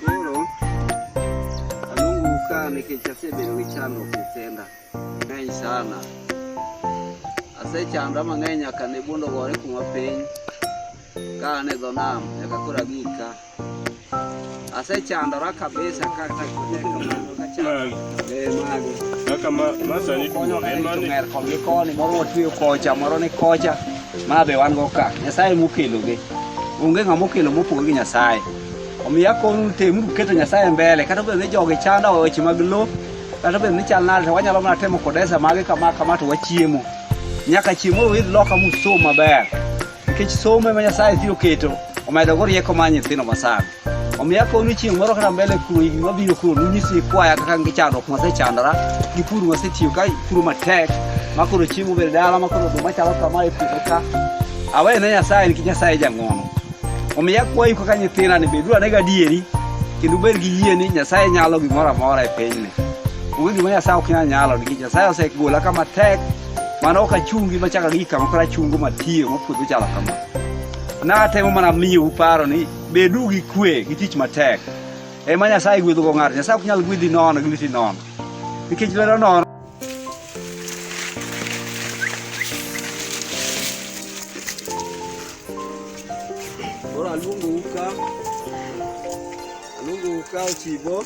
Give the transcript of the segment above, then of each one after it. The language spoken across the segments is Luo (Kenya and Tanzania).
Koro alunguka nikichasebero gi chandruok kisenda ng'eny sana. Asechandra mang'eny nyaka ne buondo gore kuma piny ka an e dho nam nyaka koro abik ka. Asechandora kabisa kata Kaka ma, ma sani tuo, en mane? ng'er koni koni moro watweyo kocha moro ni kocha ma be wan go ka nyasaye mokelogi Onge ng'ama okelo mopogore gi Nyasaye. Omiyo akoru temuru keto Nyasaye mbele kata obedo ni jogi chanda e weche mag lo kata obedo ni chal nade to wanyalo mana temo kodesa mage kama kama to wachiemo. Nyaka chiemo uidh loka musom maber nikech somo ema Nyasaye biro keto omedogo rieko mar nyithindo masani. Omiyo akonu chieng' moro kata mbele kuno higni mabiro kuno nunyis nyikwaya kaka gi chandruok masechandora gi pur masetiyo ka puro matek ma koro chiemo bed dala ma koro oduma chalo kama e puodho ka awe ne Nyasaye nikech Nyasaye e jang'wono. Omiyo akwayu kaka nyithinda ni beduru ane gadieri kendo ubed gi yie ni Nyasaye nyalo gimoro amora e pinyni. Onge gima Nyasaye ok nyal nyalo nikech Nyasaye osegola kama tek mano ok achungi machaka gi kama koro achungo matiyo ma puodho chalo kama. Natemo mana miyou paro ni Bedu gi kwe gi tich matek. Ema Nyasaye gwedhogo ng'ato. Nyasaye ok nyal gwedhi nono gi lweti nono. Nikech lwedo nono. Koro aluongo uka. Aluongo uka ochibo.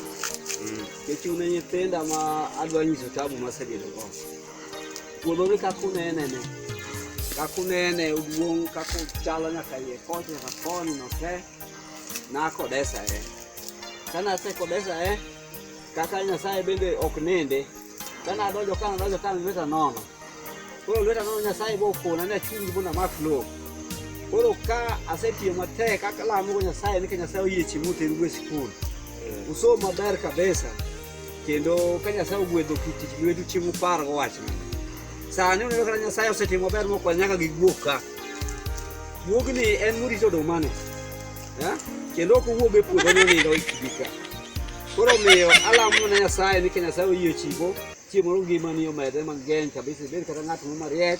Nikech une nyithinda ma adwa nyiso tabu masebedogo. Puodhoni kaka unene ne, kaka unene oduong' kaka ochalo nyaka iye kocha nyaka koni no te, nakodesa e. Kane asekodesa e, kaka Nyasaye bende ok ninde, kane adonjo ka nadonjo ka lweta nono. Koro lweta nono Nyasaye bo okona ni achungi mondo amak lowo. Koro ka asetiyo matek kaka alamogo Nyasaye ni ka Nyasaye oyie chieng' moteru e sikul, usom maber kabisa, Kendo ka Nyasaye ogwedho ki tich lwetu chieng' upar go wachno. Sani uneno kata Nyasaye osetimo ber mokwal nyaka gi guok ka. Guogni en morito odumani. Eh? Kendo ok owuog e puodho ni nindo ikigi ka. Koro miyo alamo ne Nyasaye ni ka Nyasaye oyie chigo chieng' moro ngimani omedre mang'eny kabisa ibed kata ng'at moro mariek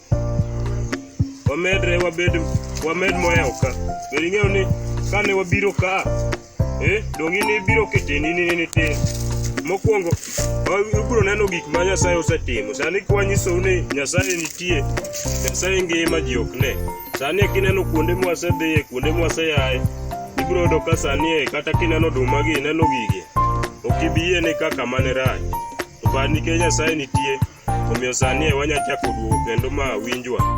wamedre wabed wamed moyawo ka be ing'eyo ni kane wabiro ka eh, donge ne ibiro keteni ni ni tin mokwongo ubiro neno gik ma nyasaye osetimo sani kwanyisou ni nyasaye nitie nyasaye ngima ji ok ne sani kineno kuonde mwasedhiye kuonde mwaseyaye ibiro yudo ka sani e kata kineno oduma gi ineno gigi ok ibi yie ni kaka mane rach Nikech Nyasaye nitie, omiyo sani e wanyachako duogo kendo ma winjwa.